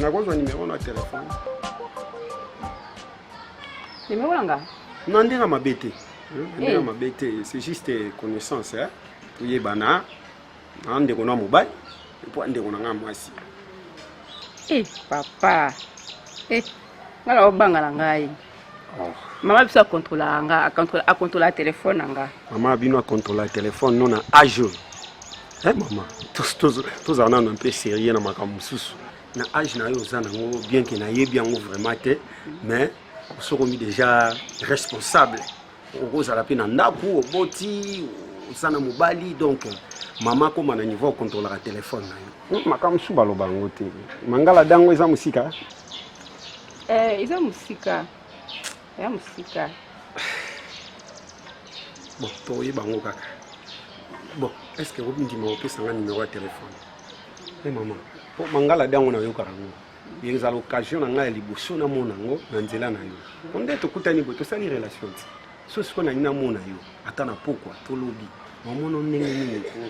nakozwa nimero na telefone nimero na nga na ndenge mabe te eh, ndenge eh. mabe te c'est juste connaissance toyebana na ndeko na mobali mpo ndeko na ngai mwasi eh, papa nga na obanga na ngai Oh. Mama biso akontrolaka nga, akontrolaka telefone na nga. Mama bino akontrolaka telefone no na age oyo. Eh mama, tozala nano mpe serieux na makambo mosusu. Na age na yo oza nango bien ke nayebi yango vraiment te, mais osokomi déjà responsable okozala mpe na ndako oboti oza na mobali donc mama akoma na niveau okontrolaka telefone na yo hmm, makambo mosusu baloba yango te mangala dango eza mosika eh, eza mosika eza mosika bon toyeba yango kaka bon est ce que obindima opesanga numero ya telefone e eh, mama mpo mangala dango nayokaka yango ezala occasion na ngai ya liboso namona yango na nzela na yo po nde tokutani boye tosali relation ti so sikoyo nalingi namona yo ata na pokwa tolobi mamono ndenge nini po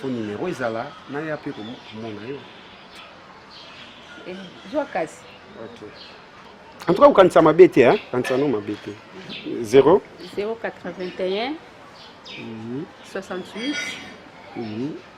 fo numero ezala naya mpe komona yo eh, zwa kasi en tout cas kokanisa mabe te kanisa no mabe te 0 081 68 68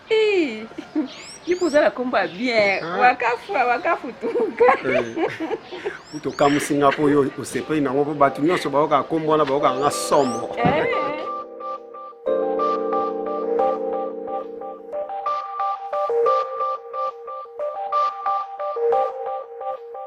ipo oza na kombo ya bien ah. wakafu wakafu tuka kutu eh. okamusi nga mpo oyo osepeli nango mpo bato nyonso bayoka kombo wana bayoka nga somo eh.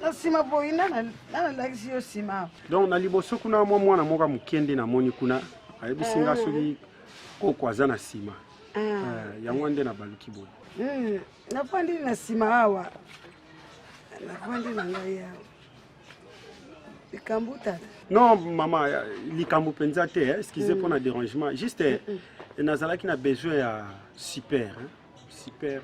na nsima boyi na nalakisi yo nsima donc na liboso kuna mwa mwana moko ya moke nde namoni kuna ayebisi nga ah. soki koko aza na nsima ah. eh, yango nde nabaluki boye hmm, nafandi na nsima awa nafandi na ngai awa likambo tata non mama likambo mpenza te excuse mpo hmm. na dérangement juste hmm, nazalaki na besoin ya super hein? Super.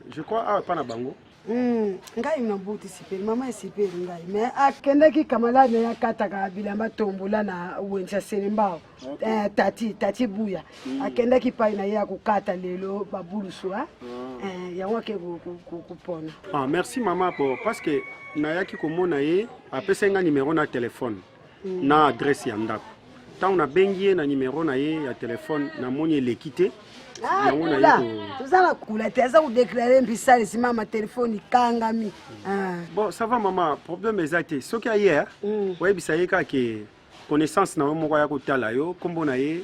Je crois awa epa na bango. Mm, ngai nabuti sipeli mama esipeli ngai me akendaki ah, kamala naye akataka bilamba tombola na wenza selembao okay. eh, tati tati buya mm. akendaki ah, pai na ye akokata lelo babulusu ah. mm. eh, yango ake kopona ah, merci mama po parce que nayaki komona ye apesai ngai numero na telefone na adresse ya ndako ntango nabengi ye na nimero na ye ya telefone namoni eleki te ah, yango na ye toza na kula te aza kodeklare mbisalisi mama telefone ikangami ah. bon ça va mama problème eza te soki aye hmm. oyebisa ye kaka ke connaissance na yo moko aya kotala yo nkombo na ye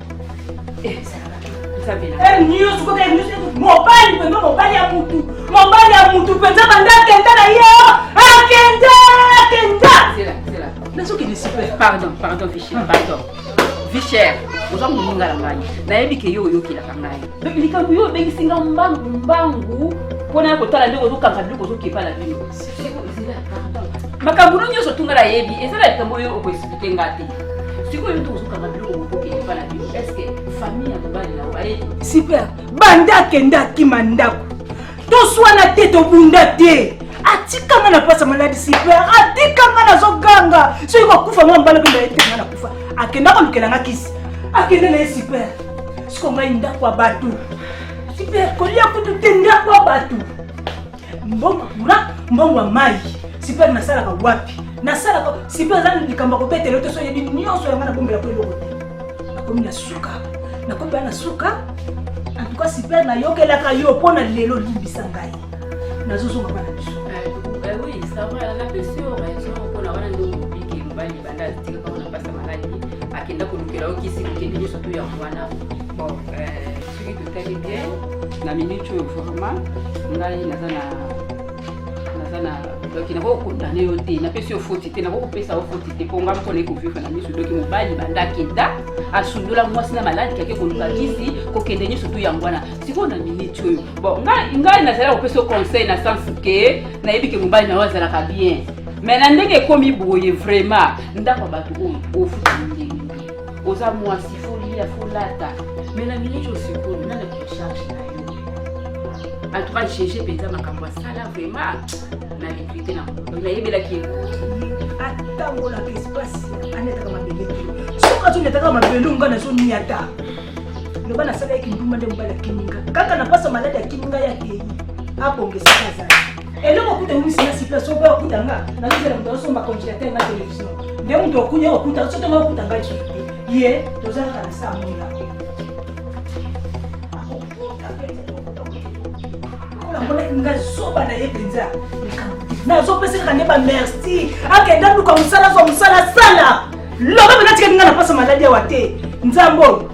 mobali pembe mobali ya mutu mobali ya mutu mpenza banda akenda na ye akenda akenda nazokende super pardon pardon vichel pardon vichel oza moninga na ngai nayebi ke yo oyokelaka ngai likambo yo obengisi nga mbangu mbangu mpo na ya kotala ndenge ozokanga biloko ozokepa na bino makambo no nyonso tunga nayebi eza na likambo oyo okoexplike nga te sikoyo yo tokokanga biloko mokoki epa na bino eske famille ya mobali na oye super banda akenda akima ndako toswana te tobunda te atikanga na pasa maladi super atikanga nazoganga soki kokufa nga mbala mpe naetanga na kufa akenda kolukela nga kisi akenda na ye super siko ngai ndako ya bato super kolia kutu te ndako ya bato mbongo courant mbongo ya mai sipere nasalaka wapi nasalaka sipere aza likambo ya kobetela yo te so oyebi nyonso yanga nabombela ko eloko te nakomi na suka nakomi baa na suka antuka sipere nayokelaka yo mpo na lelo limbisa ngai nazozonga bana biso akenda kolukela yo kisi kokende nyonso to yango wana bon euh, na minute oyo vraiment ngai naza na naza na donc nakoki kokondane yo te napesi yo foti te nakoki kopesa yo foti te mpo ngai moko nayi kovivre na miso doki mobali banda akenda asundola mwasi na maladi kake koluka kisi kokende nyonso tu yango wana sikoyo na minute oyo bon ngai nazali kopesa yo conseil na sens ke nayebi ke mobali na yo azalaka bien mais na ndenge ekomi boye vraiment ndako ya bato oyo ofuta ndenge oza mwasi folia folata me na minute osikoyo nana kicharge na yo antuka gege mpenza makambo asala vraimen na regrete na nayebelaki ye atambolaka espace anetaka mabele soki azonetaka mabele onga nazoniata loba nasalaki kindumba nde mobali akimi nga kaka na mpasa maladi akimi ngai akei abongesaka azali eloko kuta eumisi na sika soko okuta nga nazozela moto azosomba congélateur na télévision nde moto okunya okuta soki nga okuta nga lisusu te ye toza kaka na saa moya namonaki nga zoba na ye mpenza nazopesa kaka nde bamerci akenda luka mosala zwa mosala sala loba mpe natikaki nga na mpasa maladi awa te nzambe oyo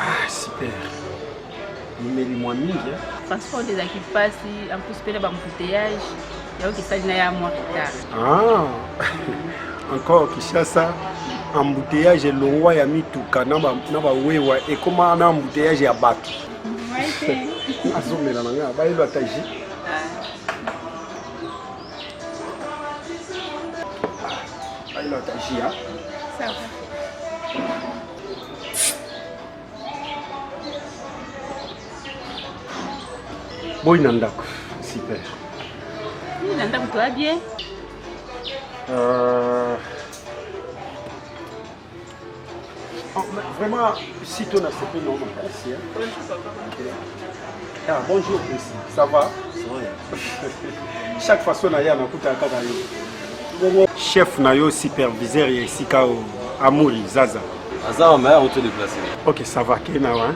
Ah, super. Mimeli mwa mingi. Hein? Transport ezalaki mpasi, en plus mpe na bambouteillage yaoki esali na ya mwa retard. Ah. encore Kinshasa embouteillage elongwa ya mituka na bawewa ekoma na embouteillage ya bato azomela na ngai bayelo ata ji boyi na ndako super boyi na ndako toa bien euh, Ah, vraiment, si tu as fait non, merci. Ah, bonjour, Chrissy. Ça va Chaque façon, na yana kuta kaka yo. Chef na yo superviseur ya esika o Amuri Zaza. Aza mama ya auto déplacé. OK, ça va, kena wa. Hein?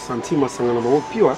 santi masanga na bango piwa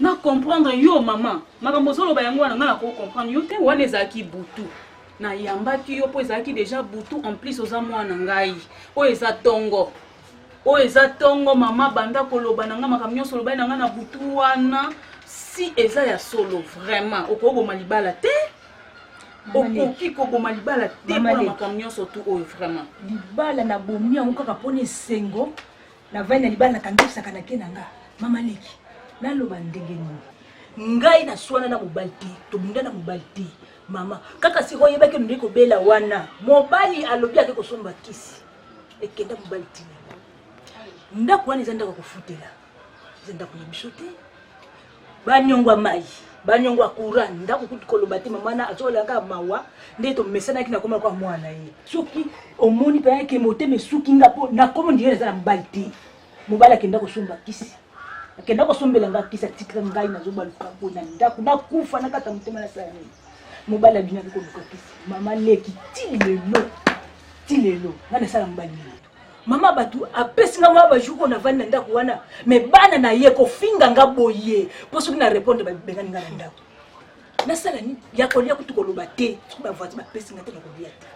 Na comprendre yo maman. Makambo ozoloba yango wana nga na ko comprendre yo te wana ezalaki butu. Na yambaki yo po ezalaki déjà butu en plus oza mwana ngai. Oyo eza tongo. Oyo eza tongo mama banda koloba na nga makambo nyonso olobaki na nga na butu wana si eza ya solo vraiment okoboma libala te okoki koboma libala te mpona makambo nyonso tu oyo vraiment libala na bomi yango kaka mpona esengo Na vandi na libala na kangisaka na ke na nga. Mama leki, na loba ndenge nini? ngai naswana na mobali te tobunda na mobali te mama kaka sikoy oyebaki nondei kobela wana mobali alobi ake kosomba kisi ekenda mobali tina ndako wana eza ndako ya kofutela eza ndako na biso te banyongo ya mai banyongo ya courant ndako kutu koloba te mama na azolaka mawa nde tomesanaki na koma kwa mwana ye soki omoni mpe yake motema esuki nga mpo nakomo ndenge naza na mobali te mobali akenda kosomba kisi akenda kosombela nga kisi atikila ngai nazobaluka mpo na ndako nakufa na kata motema na sala nini mobali abinaki koluka kisi mama leki ti lelo ti lelo nga nasala mobali nini mama bato apesi nga mwa bajour oyo navandi na ndako wana me bana na ye kofinga nga boye mpo soki na répondre babengani nga na ndako nasala nini ya kolia kutu koloba te soki bavoisin bapesi nga te na kolia te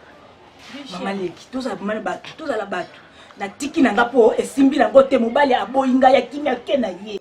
mama leki tozala mama bato tozala bato natiki na nga mpo esimbi nango te mobali aboyi nga ya kimia ke na ye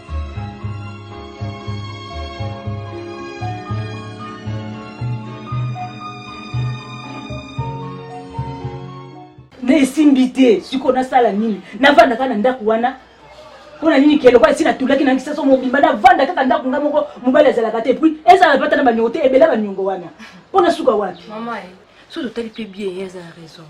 na esimbi te sikoyo nasala nini navandaka na ndako wana mpo na nini keloko esi natulaki na nkisa so mobimba navanda kaka ndako nga moko mobali azalaka te puis ezala bata na baniongo te ebela baniongo wana mpo nasuka wapi mama so totali mpe bien ye aza na raison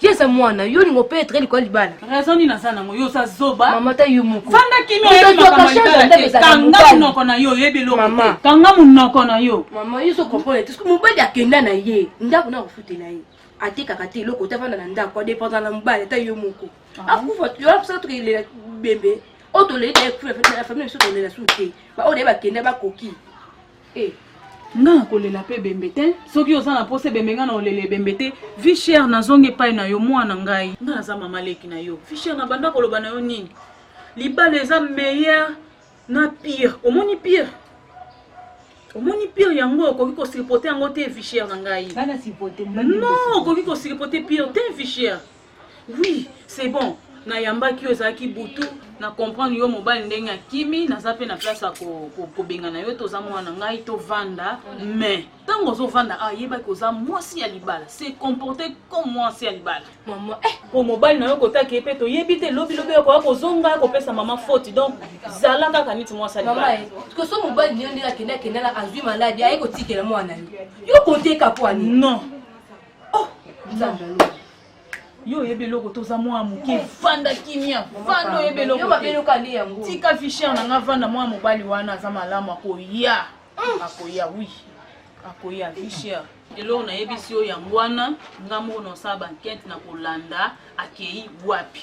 ye aza mwana yo olinga opetre likolo libala raison nini aza nango yo oza zoba mama ta yo moko fanda kimi oyebi makambo ya libala te kanga monoko na yo oyebi eloko te kanga monoko na yo mama yo ozo comprendre te mobali akenda na ye ndako na kofutela ye atekaka te eloko te afanda na ndako adependant na mobali ata yo moko ah. akufa yo aposaka tokelela bembe oyo toleli na famille biso tolela su te baoyo na ye bakenda bakoki Eh, nga nakolela mpe ebembe te soki oza na mposa ebembe nga nakolela ebembe te vie chere nazongi epai na yo mwana ngai nga naza mama leki na yo vie chere na banda koloba na yo nini libala eza meilleur na pire omoni pire omoni pire yango okoki kosilipote yango te vie chere na ngai non okoki kosilipote pire te vie chere oui c'est bon nayambaki yo ezalaki butu na comprendre yo mobali ndenge akimi naza mpe na place ya kobengana yo toza mwana na ngai tovanda mais ntango ozovanda awa ah, yebaki oza mwasi ya libala se comporte comme mwasi ya libala mama eh, po mobali na yo kotaki ye mpe toyebi te lobilobi okoya kozonga kopesa mama foti donc zala kaka niti mwasi ya libala eh, koso mobali niyo ndenge akende akendala azwi maladi aye kotikela mwana yo yo konteka pwani non oh nzambe aloba yo oyebi eloko toza mwana moke fanda kimia fanda oyebi elokotika fichier na nga vanda mwana mobali wana aza malamu akoya mm. akoya wi akoya fichier eloko nayebisi yo yango wana nga moko nosala bankete na kolanda akei wapi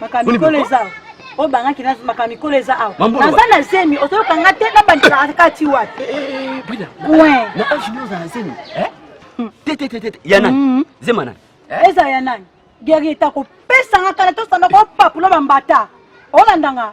makambo mikolo eza oyo bangaki makambo mikolo eza awa naza na zemi ozoyoka nga te nabandelaka kati wapi na age nio oza na zemi tetetetete ya nani zema nani eza ya nani guerrier takopesanga kala tosanda kopapula bambata olandanga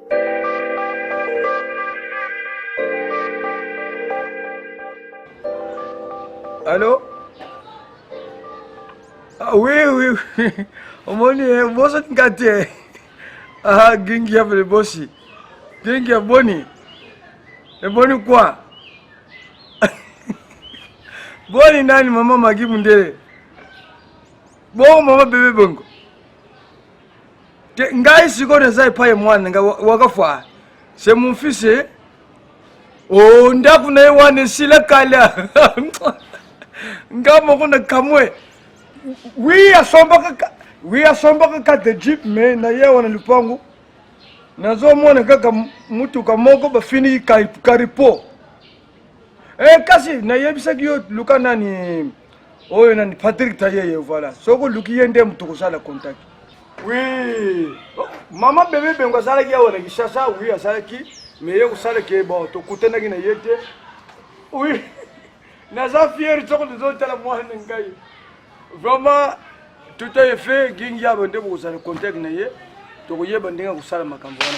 Allô Ah oui, oui, oui. Omoni, eh, boso tingati. Eh. Ah, gingi ya vile bosi. Gingi ya boni. E boni kwa? Boni nani mama Magi Mundele? Bongo mama bebe bongo. te ngai sikoyo naza epai mwana nga wakafwa se mon fils eh? o oh, ndako na ye wana esila kala nga moko na kamwe wi asombaka wi asombaka ka de jeep me na ye wana lupangu nazomona kaka motuka moko bafiniki karipo Eh, kasi nayebisaki yo luka nani oyo nani Patrick Tayeye voilà. Soki oluki ye nde moto kosala contact. Oui. Mama bebe bengo asalaki awa na Kinshasa, oui asalaki mais ye kosala ke bon tokutanaki na ye te. Oui. Naza fier soko tozotala mwana na ngai. Vraiment tout est fait gingi yabo nde bokozala contact na ye tokoyeba ndenge ya kosala makambo wana.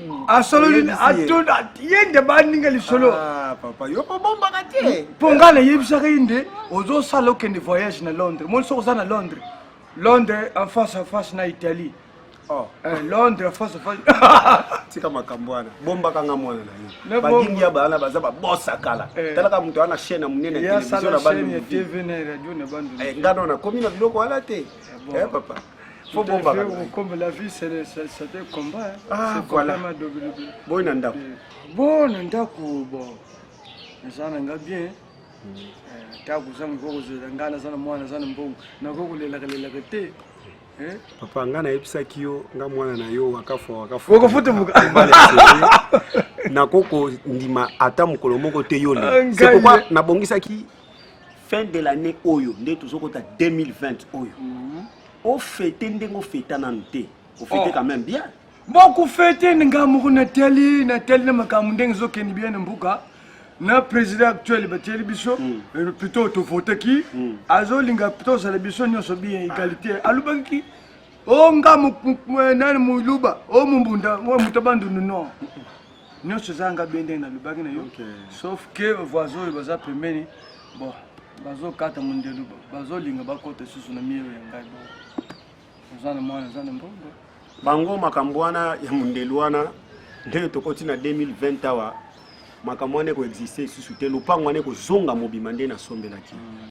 Hmm. asololi ye nde baninga lisolo ah, papa yo kobombaka te mpo ngai nayebisaka ye nde ozosala okende voyage na londres moni soki oza na londres londres en face en face na italie Oh. Eh, londres face face tika makambo wana bombaka nga mwana na yo badingi ya bana baza babosa kala eh. talaka moto wana chaîne ya monene ya televizio na bandunga eh, nga nona komi na biloko wana te eh, papa Faut bomba kaka. Comme la vie, c'est un combat. Hein. Ah, c'est voilà. Boy na ndako. Bon na ndako, bon. Naza na nga bien. Mm. Eh, ta kuza mukoko zela nga naza na mwana naza na mbongo. Nako kolelaka lelaka te. Eh? Papa nga nayebisaki yo nga mwana na yo wakafo wakafo. Okofuta muka. Nako ko ndima ata mukolo moko te yo le. Ah, c'est pourquoi nabongisaki fin de l'année oyo nde tozokota 2020 oyo mhm. ofete ndenge ofeta nanu te ofete oh. quand même bien bokufete nga moko natali natali na makambo ndenge ezokende bien na mboka na président actuel batieli biso mm. euh, plutôt tovotaki mm. azolinga tozala biso nyonso bien égalité alobaki o oh, nga nani moluba o oh, mombunda o oh, moto bandundu non nyonso eza nga bende nalobaki na yo sauf que voisin oyo baza pembeni bon bazokata mondelu bazolinga bakota lisusu na mielo ya ngai bo oza na mwana eza na mbongo bango makambo wana ya mondelu wana ndenge tokoti na 2020 awa makambo wana ekoexiste lisusu te lopango wana ekozonga mobima nde nasombelaki mm.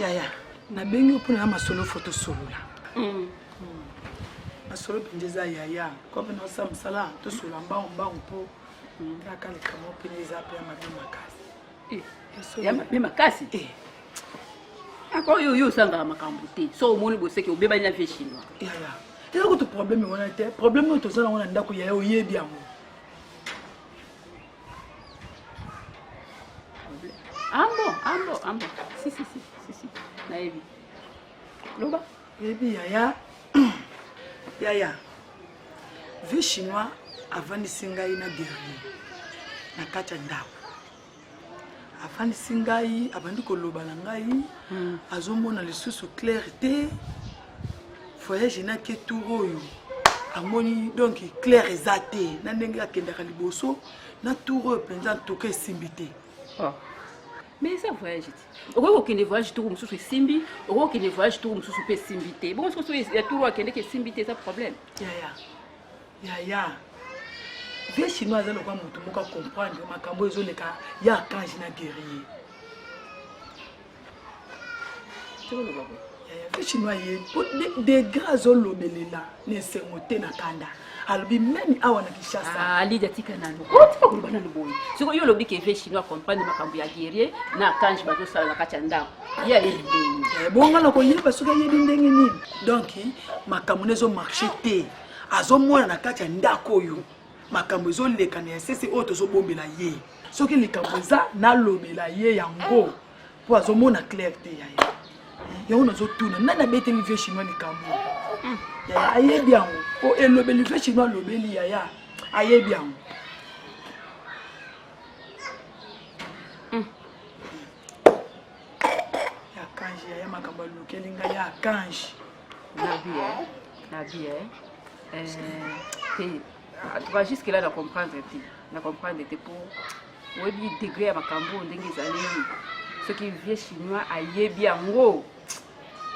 yaya nabengi yo mpona na masolo fo tosolola mm. masolo mpenza eza yaya kope naosala mosala tosolola mbangu mbangu mpo mm. kaka likambo mpenza eza mpe ya mabe makasi eh, ya mabe makasi eh. ako yo yo osangaka makambo te so omoni boseki obebani na vie chinois yaya eza kutu probleme wana te probleme oyo toza nango na ndako yaya oyebi yango Ambo, ambo, ambo. Si, si, si, si, si. Nayebi. Loba. Yebi yaya. yaya. Vie chinois avandisi ngai na guerrier na kati ya ndako afandisi ngai abandi koloba na ngai hmm. azomona lisusu claire te voyage na ke tour oyo amoni donc claire eza te na ndenge akendaka liboso na tour oyo mpenza ntoka esimbi te ah. mais eza voyage te okoki kokende voyage tour mosusu esimbi okoki kokende voyage tour mosusu mpe esimbi te bongo soki soki ya tour oyo akendeki esimbi te eza problème yaya yaya vie chinois aza lokola moto moko acomprendre makambo ezoleka ya archange na guerrier chinois ye po degre azolobelela na esengo te na kanda alobi meme awa na kinshasa alidi ah, atika nano otika koloba nano boye soko yo olobi ke ve chinois comprendre makambo ya guerrier na kange bazosala na kati ya ndako ye ayebi eh, bonga na koyeba soki ayebi ndenge nini donc makambo na ezomarche te azomona na kati ya ndako oyo makambo ezoleka na esese oyo tozobombela ye soki likambo eza nalobela ye yango mpo azomona claire te ya ye yango nazotuna nani abeteli vie chinois likambo yaya ayebi yango mpo elobeli vie chinois alobeli yaya ayebi yango ya kanji yaya makambo alukeli ngai ya kanji na vie na vie te atuka jusque là na comprendre te na comprendre te mpo oyebi degre ya makambo oyo ndenge ezali soki vie chinois ayebi yango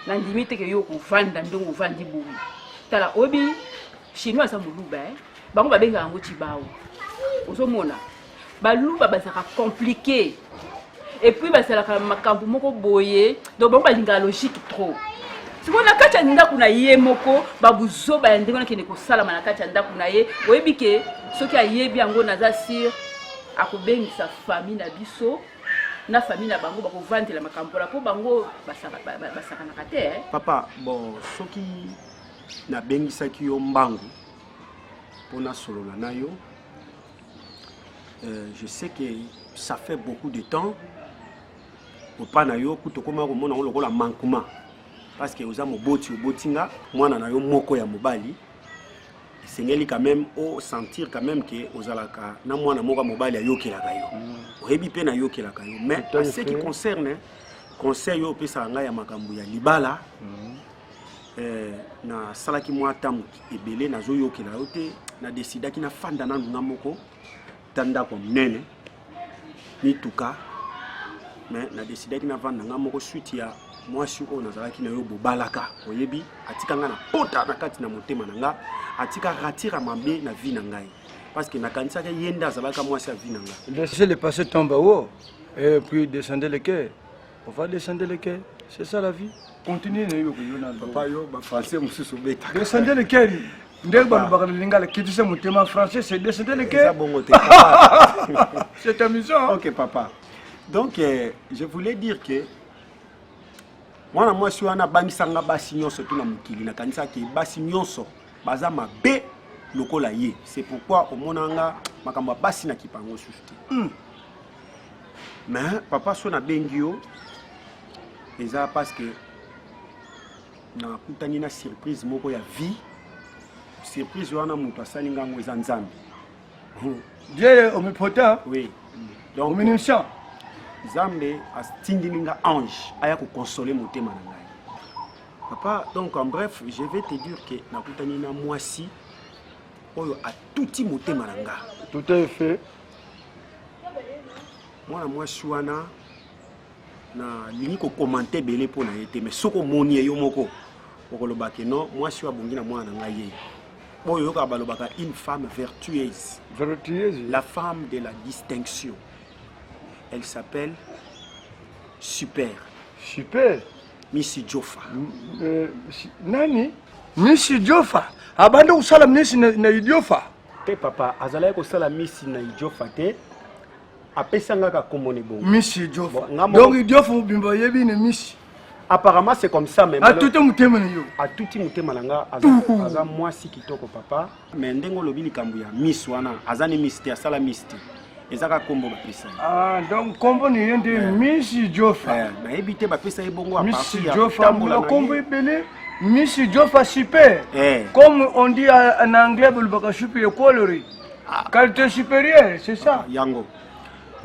nandimi te ke yo okovanda ndenge ovandi boye tala oyebi chinois aza moluba eh? bango babengaka yango chibao ozomona baluba bazalaka compliqué et puis bazalaka makambo moko boye donc bango balingaka logique trop sikoyo na kati ya ndako na ye moko babuzoba ya ndenge wana kende kosalama na kati ya ndako na ye oyebi ke soki ayebi yango naza sur akobengisa fami na biso na fami na bango bakovandela makambo mpona mpo bango basakanaka te eh. papa bon soki nabengisaki yo mbangu mpo nasolola na yo Euh, je sais que ça fait beaucoup de temps opa na yo kutu okoma komona yango lokola mankuma parce que oza moboti oboti nga mwana na yo moko ya mobali esengeli quand même osentir quand même ke ozalaka na mwana moko ya mobali ayokelaka yo mm. oyebi mpe nayokelaka yo mais ce qui concerne conseil oyo opesaka ngai ya makambo ya libala mm. eh, nasalaki mwa ntango ebele nazoyokela yo te nadesidaki nafanda nanu nga moko ta ndako monene mituka me nadesidaki navanda nga moko switi ya mwasi oyo nazalaki na yo bobalaka oyebi atika nga na pota na kati na motema na nga atika ratira mabe na vi na ngai parce que nakanisaka ye nde azalaka mwasi ya vi na ngai le passé tombe haut et puis descendez le cœur On va descendre le cœur. C'est ça la vie. Continue na yo yo na papa yo ba français mususu beta. Descendre le cœur. ndenge balobaka na lingala kitisa motema français c'est descendre le cœur. bongo te. C'est amusant. OK papa. Donc euh, je voulais dire que mwana mwasi wana abangisanga basi nyonso tu na mokili nakanisaki basi nyonso baza mabe lokola ye c'est pourquoi omonanga makambo ya basi na kipango susu te. Mm. mais papa so nabengi yo eza parce que nakutani na surprise moko ya vie surprise wana moto asali nga yango eza nzambe dieu omnipotent oui donc omniscient nzambe atindili nga ange aya kokonsole motema na ngai papa donc en bref je vais te dire que nakutani na mwasi oyo atuti motema na nga tout à fait mwana mwasi wana nalingi kokomante ebele mpo na ye te mais soki omoni ye yo moko okoloba ke non mwasi oyo abongi na mwana na ngai ye oyo oyokaka balobaka une femme vertueuse vertueuse la femme de la distinction elle s'appelle super super misi jofa euh, nani misi jofa abandi kosala misi na, na idiofa te papa azalaki kosala misi na idiofa te apesa nga ka kombo ne bongo misi idiofa donc idiofa mobimba oyebi ne misi apparemment c'est comme ça mais atuti motema na yo atuti motema na nga aza mwasi kitoko papa mais ndenge olobi likambo ya miss wana aza ne miss te asala miss te eza kaka kombo bapesa ah, donc kombo na ye nde eh. misi jofa eh, nayebi te bapesa ye bongo misi jofa kombo ebele misi jofa super eh. comme on dit na anglais bolobaka supi equalry ah. qualité supérieure c'est ça yango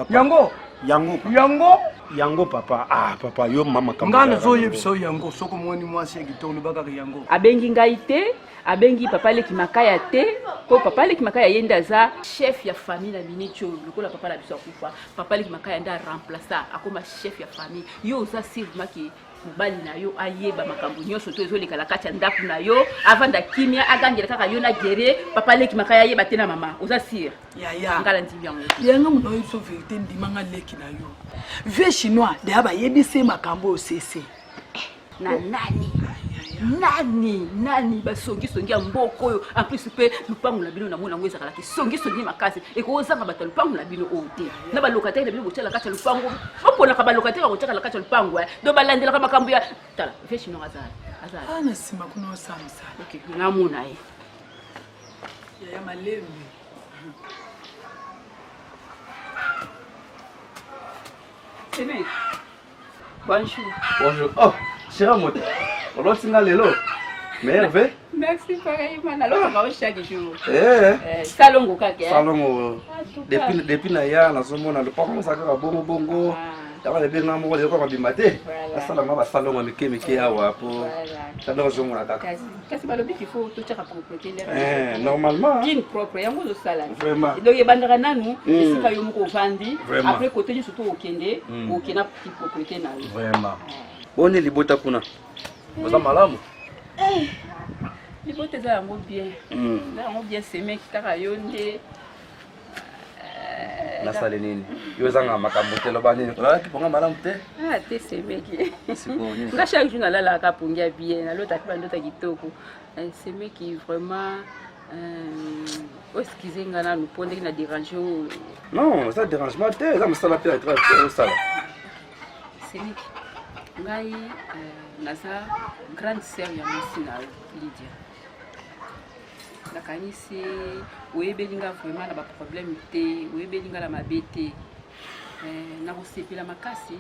yango yango yango yango papa ah papa yo mama kama ngai nazoyebisa yo yango soki omoni mwasi ya kitoko lobakaka yango abengi ngai te abengi papa leki makaya te mpo papa leki makaya ye nde aza chef ya famille na miniti oyo lokola papa na biso akufa papa leki makaya nde aremplaça akoma chef ya famille yo oza sirmaki mobali na yo ayeba makambo nyonso to ezoleka na kati ya ndako na yo avanda kimia agangela kaka yo na gere papa leki makaya ayeba te na mama oza sire ngala ndimi yango yanga moto oyebi so verité ndimanga leki na yo vie chinois deya bayebisi ye makambo oyo sese na nani nani nani basongisongi ya mboka oyo en plus mpe lupango na bino namona yango ezalaka kisongisongi makasi ekozanga bato ya lupango na bino oyo te na balokateri na bino botyala kati ya lupango baponaka balokateri bakotyaka na kati ya lupango eh. do balandelaka makambo ya tala vechino azala azala ah, na nsima kuna osamisa namona ye yaya malembe Amen. Bonjour. Bonjour. Oh, chère moto. Oloti nga lelo. Meilleur vœu. Merci pareillement. Nalongo ba chaque jour. Eh. eh salongo kaka. Eh. Salongo. Ah, depuis depuis na ya na somo na lopango na saka bongo bongo. Ah. Yaba lebe na moko leko mabimba te. Asala nga ba salongo mike mike awa po. Salongo zomo na kaka. kasi balobi qu'il faut totyaka propreté ndenge eh, normalement kin propre yango ozosala donc ebandaka nanu hmm. esika yo moko ovandi après kote nyonso to okende hmm. oke na propreté na yo vraiment boni libota kuna oza malamu eh, libota eza yango bien hmm. eza yango bien semeki kaka yo nde nasali nini yo ozanga makambo te loba nini olalaki mponga malamu te ah, te semeki nga chaque jour nalalaka mpongi ya bien nalotaki bandota kitoko eh, semeki vraiment euh, oskize nga nanu mpo ndenge na dérange oyo non eza dérangement te eza mosala mpe osala semeki ngai euh, naza grande sœur ya mwasi na yo lydia nakanisi oyebeli nga vraiment na baproblème te oyebeli nga na mabe te eh, nakosepela makasi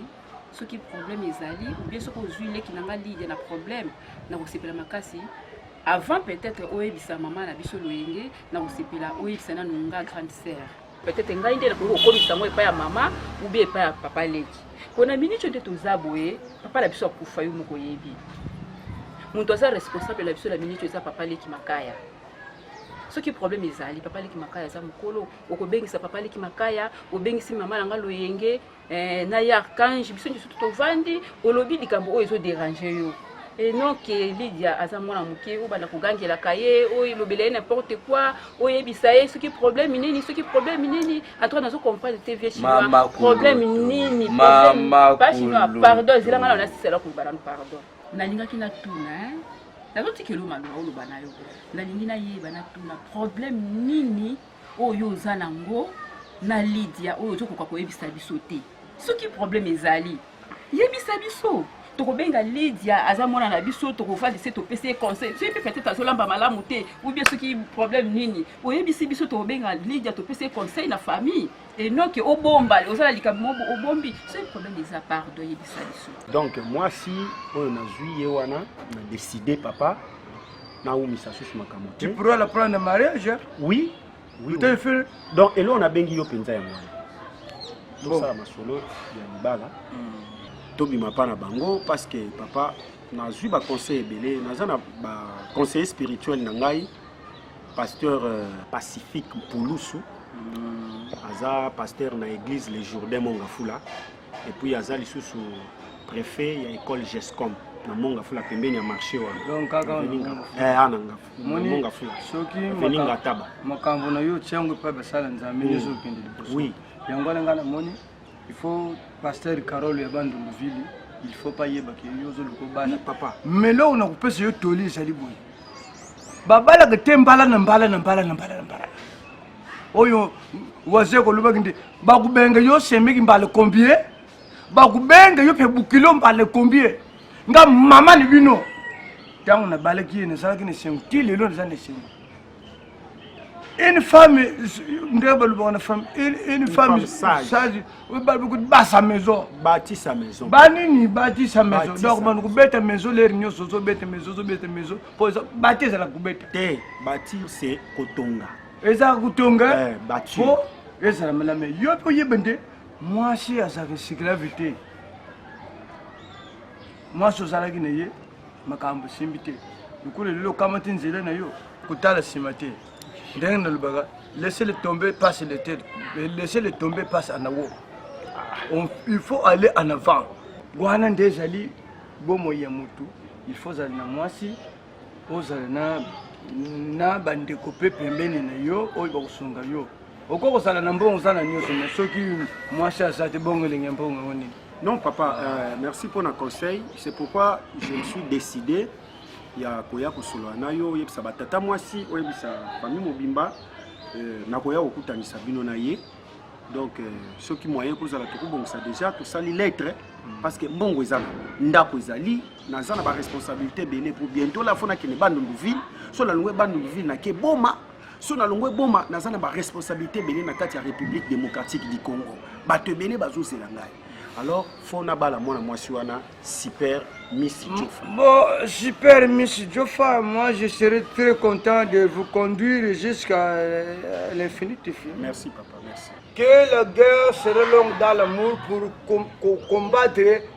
soki problème ezali oubien soki ozwi leki na nga lidia na problème nakosepela makasi avant peut-être oyebisa mama na biso loyenge nakosepela oyebisa nanu nga grande sœur peut-être ngai nde nakoki kokomisa yango epai ya mama ou bien epai ya papa leki mpo na miniti nde toza boye papa na biso akufa yo moko oyebi moto aza responsable na biso na miniti eza papa leki makaya soki problème ezali papa leki makaya aza mokolo okobengisa papa leki makaya obengisi mama na nga loyenge eh, na ye archange biso nyonso tovandi olobi likambo oyo ezoderange yo enon ke lidia aza mwana moke obanda kogangelaka ye oyelobela ye n'importe quoi oyebisa ye soki problème nini soki problème nini antoine azo comprendre te vie chinois problème nini pa chinois pardon ezela nga na nasisela koloba nano pardon nalingaki natuna nazotikelo maloba oloba na yo nalingi nayeba natuna problème nini oyo yo oza nango na lidia oyo ozokoka koyebisa biso te soki problème ezali yebisa biso tokobenga lidia aza mwana na biso tokovandi se topesi ye conseil soki mpe peut-être azolamba malamu te oubien soki problème nini oyebisi biso tokobenga lidia topesi ye conseil na famille enoke obomba ozala likambo mobo obombi soki problème eza pardo yebisa biso donc mwasi oyo nazwi ye wana na décide papa nawumisa susu makambo te tu pourras la prendre na mariage oui oui, oui. Fait... donc eloko nabengi yo mpenza yango wana tosala masolo ya libala hmm. tobima mpa na bango parce que papa nazwi baconseil ebele naza na baconseiller spirituel na ngai pasteur euh, pacifique mpulusu hmm. aza pasteur na église le jourdain mongafula et puis aza lisusu préfet ya école gescom na monga fula pembeni ya marché wana donc kaka ana nga monga fula soki veninga taba makambo na yo tiango epai basala nzambe nyonso mm. okende liboso oui yango wana ngai namoni il faut pasteur carole ya bandundu ville il faut pas yeba ke yo ozoluka obala papa melo oyo nakopesa yo toli ezali boye babalaka te mbala na mbala na mbala na mbala na mbala oyo waze kolobaki nde bakubenge yo semeki mbale combien bakubenge yo mpe bukilo mbale combien nga mama ni bino ntango nabalaki ye nazalaki na esengo ti lelo naza na esengo une femme nde balobaka na femme une femme sage balobaka basa maison batisa maison banini batisa maison donc bana kobeta maison lere nyonso ozobeta maison ozobeta maison mpo bati ezalaka kobeta te batir se kotonga ezalaka kotonga eh, po ezala malama yo mpe oyeba nde mwasi azalaka esclave te mwasi ozalaki na ye makambo esimbi te lokola lelo okamati nzela na yo kotala nsima te ndenge nalobaka laisser le tomber passe le terre laisser le tomber passe en awo il faut aller en avant wana nde ezali bomoi ya motu il faut ozali na mwasi ozala na na bandeko mpe pembeni na yo oyo bakosunga yo okoki kozala na mbongo oza na nyonso me soki mwasi aza te bongo elenge mbongo yango nini non papa euh, merci mpo na conseil c'est pourquoi je me suis décidé ya koya kosolola na yo oyebisa batata mwasi oyebisa famille mobimba euh, nakoya kokutanisa bino na ye donc euh, soki moyen kozala tokobongisa déjà tosali lettre mm. parce que mbongo ezala ndako ezali naza na baresponsabilité ebele po bientôt la fo nakende bandundu ville so nalongwe bandundu ville nake boma so nalongwe boma naza na baresponsabilité ebele na kati ya république démocratique du congo bato ebele bazozela ngai alors fo nabala mwana mwasi wana super miss jofa bon super miss jofa moi je serai très content de vous conduire jusqu'à euh, l'infinité merci papa merci que la guerre serait longue dans l'amour pour com combattre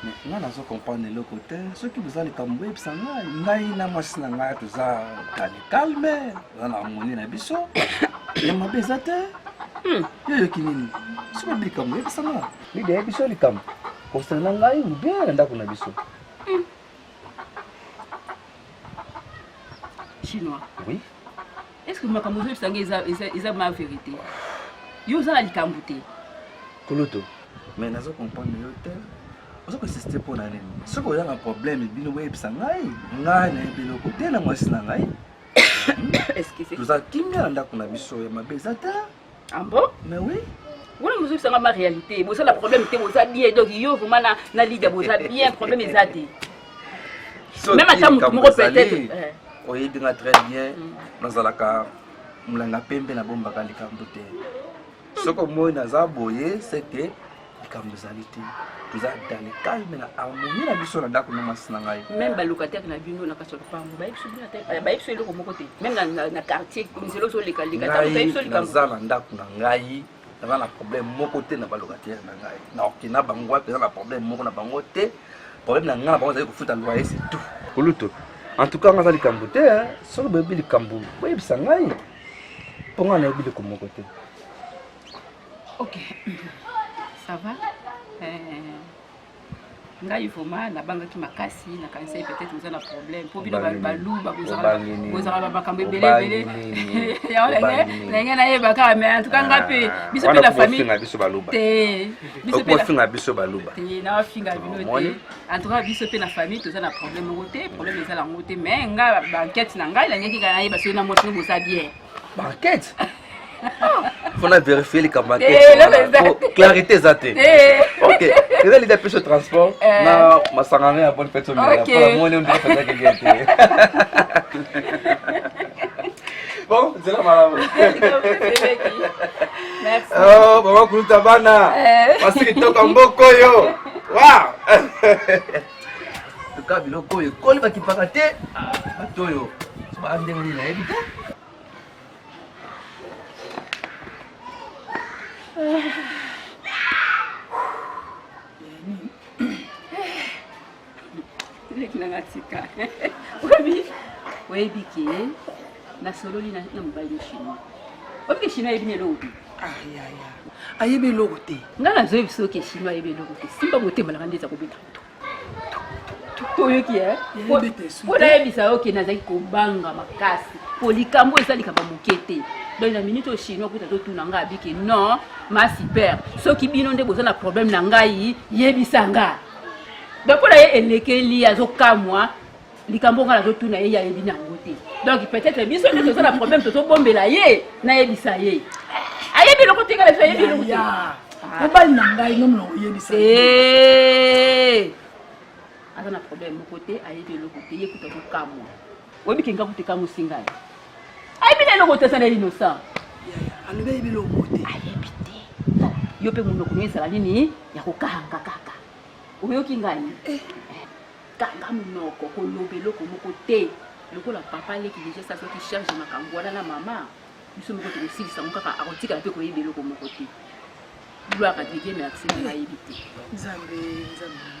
nga nazo comprendre eloko te soki boza likambo boyebisa ngai ngai na mwasi na ngai toza kale calme oza na harmonie na biso ya mabe eza te hmm. yo yoki nini soki oyebi likambo oyebisa nga bida yebi biso likambo kosana ngai obe na ndako na biso hmm. chinois oui est ce que makambo ozoyebisa ngai eza, eza, eza ma verité yo oza na likambo te kulutu mais nazo comprendre yo te oza koinsiste mpo na nini soki oza na problème bino boyebisa ngai ngai nayebi eloko te na mwasi na ngai toza kimia na ndako na biso ya mabe eza te Ah bon? Mais oui. wana mozokisanga ma réalité boza na problème te boza bien donc yo vraiment na, na lida boza bien problème eza te même ata motu moko peut-être eh. oyebi nga très bien mm. nazalaka molanga pembe nabombaka likambo te soki omoi naza boye seke likambo ezali te toza dans le calme na harmonie na biso na ndako na mwasi na ngai meme balocataire na bino na kati ya lopango bayebiso eloko moko te meme na quartier nzela ozoleka lekanaza na ndako na ngai naza na problème moko te na balocataire na ngai na oke na bango wapi eza na problème moko na bango te problème na ngai na bango ezali kofuta loyer c'est tout kulutu en tout cas nga aza likambo te soki boyebi likambo boyebisa ngai mpo ngai nayebi likambo moko te ok ça va euh, ngai vraiment nabangaki makasi nakanisaki peut-être oza na problème mpo bino baluba bozalaka makambo ebele ebele yango ndenge nayeba kaka mais en tout cas nga mpe ah, biso mpe na famille te biso mpe nafinga bino te en tout cas biso mpe na famille toza na problème moko te problème eza yango te mais nga banquete na ngai nangeki kaka nayeba soki na mwasi no boza bien Banquette mpo na verifie likambo ya Eh, eloko eza te. Po clarité eza te Eh. ok eza lida mpe so transport Eh. na masangano ya bonne fete omela Ok. mpona moni ondika fete akenge te bon nzela malamu Merci. Oh, mama kuluta bana Eh. basi kitoko mboko oyo wa Toka biloko oyo ekoli bakipaka te ah, bato oyo baa ndenge nini nayebi te leki nanga tika oyebi oyebi ke Na sololi na na mobali na chinois. Obi ke chinois ebine lobi. Ah ya ya. Ayebe logo te. Nga na zoe biso ke chinois ayebe logo te. Simba bote malanga ndeza ko beta. Toyoki eh. Ko na yebisa yo ke nazaki ko banga makasi. Po likambo eza likambo moke te. Donc na minute au chinois kuta to tuna nga biki non ma super. Soki bino nde boza na problème na ngai yebisa nga. Donc ko na ye elekeli azokamwa likambo nga nazotuna ye ye ayebi na yango te donc peut-être biso nde toza na problème tozobombela ye nayebisa ye ayebi eloko te ngala ayebi eloko te mobali na ngai no molongo oyebisa eh! aza na problème moko te ayebi eloko te ye kuta kokamwa oyebi kenga kuta ekamwisi ngai ayebi na eloko te aza na innocent alobi ayebi eloko te ayebi te yo mpe monoko no ezala nini ya kokanga kaka oyoki ngai eh. kanga munoko koloba eloko moko te lokola papa leki deja esi azwaki charge ya makambo wana na mama biso moko tokosilisa yango kaka akotikala mpe koyeba eloko moko te gloire adedie me akse na nayebi te nzambe nzambe